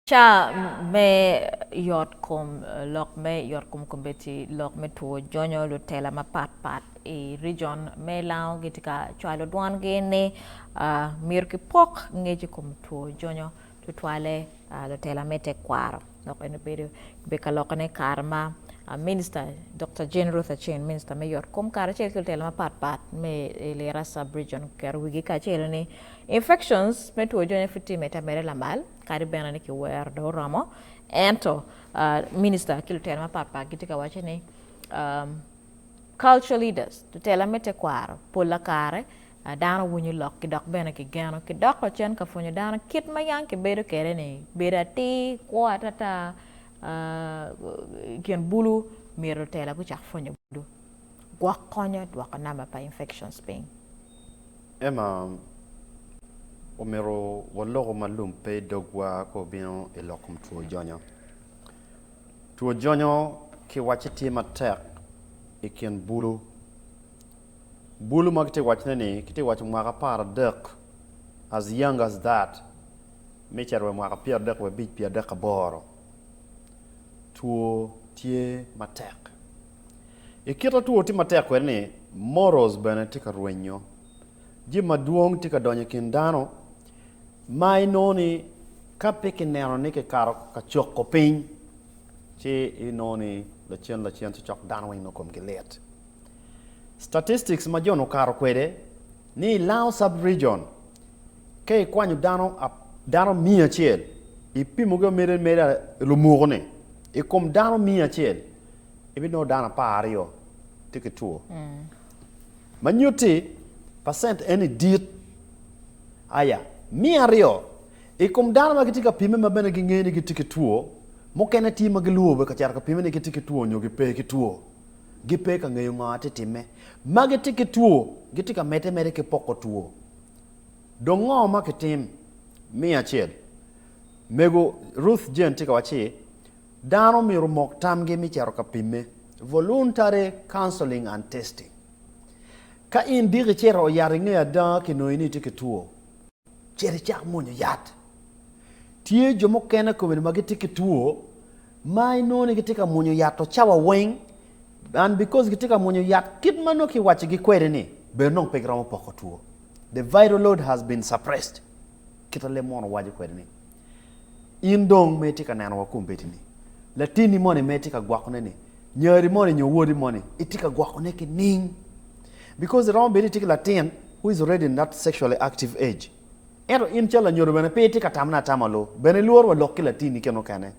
Ca me yotkom, lok me yotkom kobbe ci lok me two jonyo lutela mapat pat i region me lango gitye ka cwalo dwongi ni myero kipok ngec i kom two jonyo. tutwalle lutela me tekwaro dok en obedo obedo ka lokone i kare ma Minista Dokta Jane Ruth Aceng, Minista me Yotkom karacel ki lutela mapatpat me i Lira Sub-Region oketo wigi kacelo ni infections me two jony pud tye mete ameda lamal kadi bene ni kiwero dong oromo ento Minista ki lutela mapatpat gitye ka waco ni Culture leaders, lutela me tekwaro, pola kare A Dano winyo lok ki dok bene ki geno ki dok ocen ka pwonyo dano kit ma yang ki bedo kede ni bedo atir, kwo atata ikin bulu mito tela gucak pwonyo bulu gwok konyo dwoko number pa infections piny. Emma, Omito waloku ma lum pe i dogwa ka obino i lok kom two jonyo. Two jonyo ki wacci tye matek ikin bulu. Bulu ma kitye wacone ni kitye waco mwaka apar adek as young as that me cito wa mwaka pyera dek wa abic pyera dek aboro two tye matek ikita two tye matek kwede ni morals bene tye ka rwenyo jami madwong tye ka donyo ikin dano ma inongo ni ka pe kineno ni kikato kacoko piny ci inongo ni lacen lacen ci cok dano weng nongo komgi lit. Statistics ma John okato kwede ni i Lao Sub-Region, ka ikwanyo dano dano miya acel, ipimogi omede ameda lumuku-ni, i kom dano miya acel, ibinongo dano apar aryo tye ki two, ma nyutti pacent eni dit. Aya miya aryo i kom dano ma gitye ka pimme ma bene gingeyo ni gitye ki two, mukene tye ma gilwobe ka cito ka pimme ni gitye ki two nyo gipe ki two. gipe ka ngeyo ngo atye time. Ma gitye ki two gitye ka mete mere ki poko two. Dong ngo ma kitim? Miya acel. Mego Ruth Jane tye ka waci, Dano omyero omok tamgi mi cito ka pimme, voluntary counseling and testing. Ka in diki cito oyat inge ada kinongi ni itye ki two. Cit icak mwonyo yat. Tye jo mukene kome-ni ma gitye ki two ma inongo ni gitye ka mwonyo yat to cawa weng and because gitye ka mwonyo yat kit ma nongo kiwaccogi kwede-ni bene nongo pe giromo poko two. The vital load has been suppressed. Kit ma leb mono waco kwede-ni. In dong ma itye ka neno wa kombeddi-ni, latinni moni ma itye ka gwokone-ni, nyari moni nyo wodi moni, itye ka gwokone ki ning? Because iromo bedo ni itye ki latin who is already in that sexually active age. Ento in calo lanyodo bene pe itye ka tamone atama lu, bene ilworo wa lok ki latinni kene okene.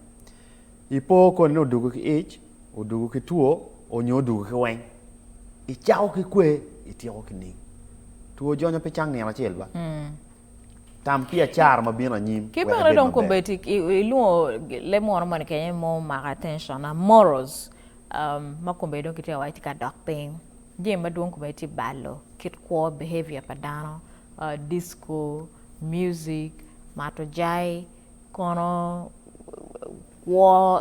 Ipo koni ni odugo ki ic, odugo ki two, onyo odugo ki weng. Icako ki kwe, ityeko ki ning? Two jonyo pe cang nino acel ba? Tam pi acara ma bino anyim. Ki bene dong kobedi ilwongo leb munu moni kenye mo mako attention na morals um, ma kobedi dong kitye wac tye ka dok piny. Jami madwong kobedi tye balo kit kwo behavior pa dano, uh, disco, music, mato jai, kono kwo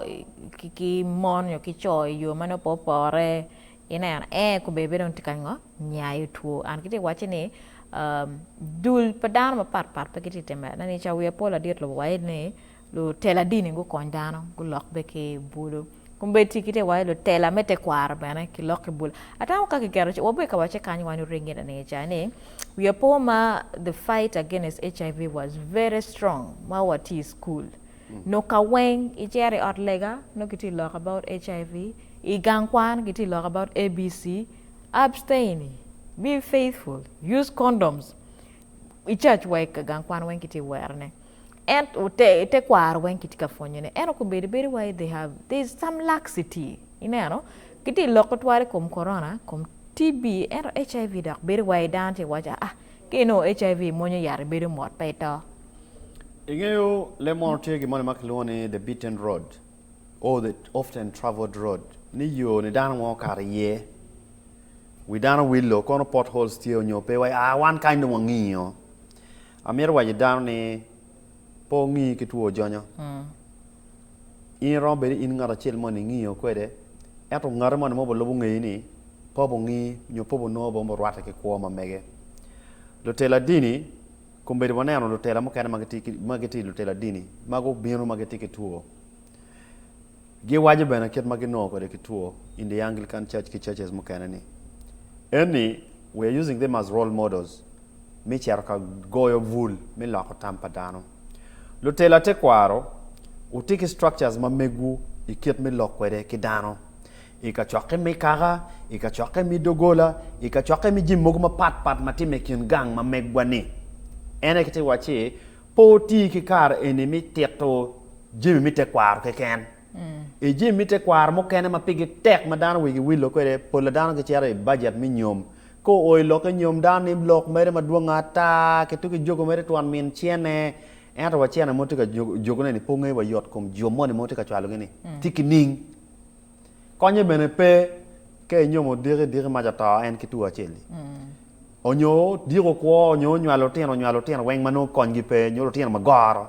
ki mon nyo ki co i yo ma nongo pe opore, Ineno, ee, kobbe bene dong tye ka ngo, nyayo two. And kitye ka wacce ni, um, dul pa dano mapat pat pe gitye ka time. Ineno, i cawiya pol adit lobo waye ni, lutela dini gukony dano, gulok be ki bulu. Kombeddi kitye ka wacce lutela me tekwaro bene gilok ki bulu. Atamo ka kiketo, wabed ka wacce kany wan oringe na niye ca ni, wiya po ma the fight against HIV was very strong ma watye i school. Nongo ka weng icito i ot lega nongo ki tye loko about HIV, i gang kwan ki tye loko about ABC, abstain, be faithful, use condoms, i church wa i gang kwan weng ki tye wero ne ento te kwaro weng ki tye ka pwonyo ne ento kobedi bedi wai they have there is some laxity ineno ki tye loko twal i kom corona, i kom TB ento HIV dok bedo wai dano tye ka waco aa Ka inongo HIV imwonyo yat ibedo mot pe ito. Ingeyo leb mono tye gin moni ma kilwongo ni the beaten road or the often travelled road ni yo ni dano nwo kato iye wi dano wilo kono pot holes tye onyo pe wa aa wan kany dong wangingo amito waco dano ni pe ongi ki two jonyo. In iromo bedo ni in ngat acel moni ingiyo kwede, ento ngati moni mogo lubo ngeyi ni pe obungi nyo pe obunongo bene murwatte ki kwo ma mege. Lutela dini, kombeddi waneno lutela mukene ma gitye lutela dini ma gubino ma gitye ki two. Giwaco bene kit ma ginongo kwede ki two in the Anglican Church ki churches mukene ni, Eni, we are using them as role models me cito ka goyo bul me loko tam pa dano. Lutela tekwaro, wuti ki structures ma megwu i kit me lok kwede ki dano i kacokke me kaka, i kacokke me doggola, i kacokke me jami mogo mapatpat ma timme i kin gang ma megwa-ni. En aye kite wacci, Pe wuti ki kare eni me tito jami me tekwaro keken. I jami me tekwaro mukene ma pigi tek ma dano wigi wilo kwede, pol pa dano gicito i bajet me nyom. Ka oo i lokke nyom, dano nimo lok mere madwongo ata ki tugo ki jogo mere twon min cene. Ento wa cene mo tye ka jogone-ni pe wungeyo wa yot kom jo moni ma wutye ka cwalogi-ni tye ki ning? Konye bene pe ka inyomo diki diki mac oto en ki two acel-li onyo dyeko kwo onyo nywalo lutino nywalo lutino weng ma nongo konygi pe nyo lutino ma goro.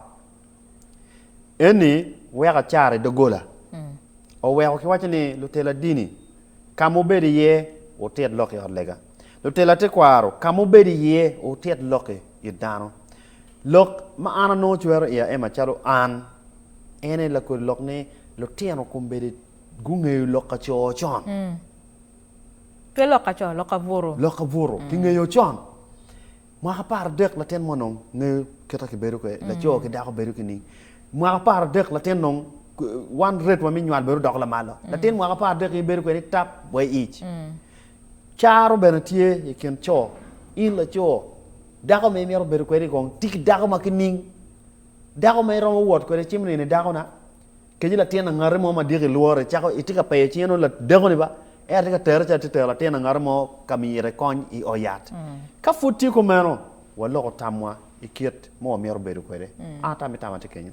Eni weko acara i doggola oweko kiwaco ni lutela dini ka ma wubedo iye wutit lok i ot lega. Lutela tekwaro ka ma wubedo iye wutit lok i it dano. Lok ma an anongo cwero iya en macalo an en aye lakodi lok ni lutino kombeddi gungeyo lok ka coo con. Pe lok ka coo, lok ka butu. Lok ka butu kingeyo con. Mwaka apar adek latin mo nong ngeyo kita kibedo kwede, laco ki dako bedo ki ning. Mwaka apar adek latin nong one rate wa mi nywal bedo dok lamalo. Latin mwaka apar adek in ibedo kwede tap way ic. Caro bene tye i kin co, in laco, dako ma imito bedo kwede kong tye ki dako ma ki ning, dako ma iromo wot kwede cimo nino i dakona. Keci latin angati mo ma diki lworo icako itye ka peyo cinge nongo ladeko ni ba en atye ka tere calo atye tero latin angati mo ka mire kony i oo yat. Ka pud tye kumeno waloko tamwa ikit mo wamito bedo kwede. An atam itam atye kenyo.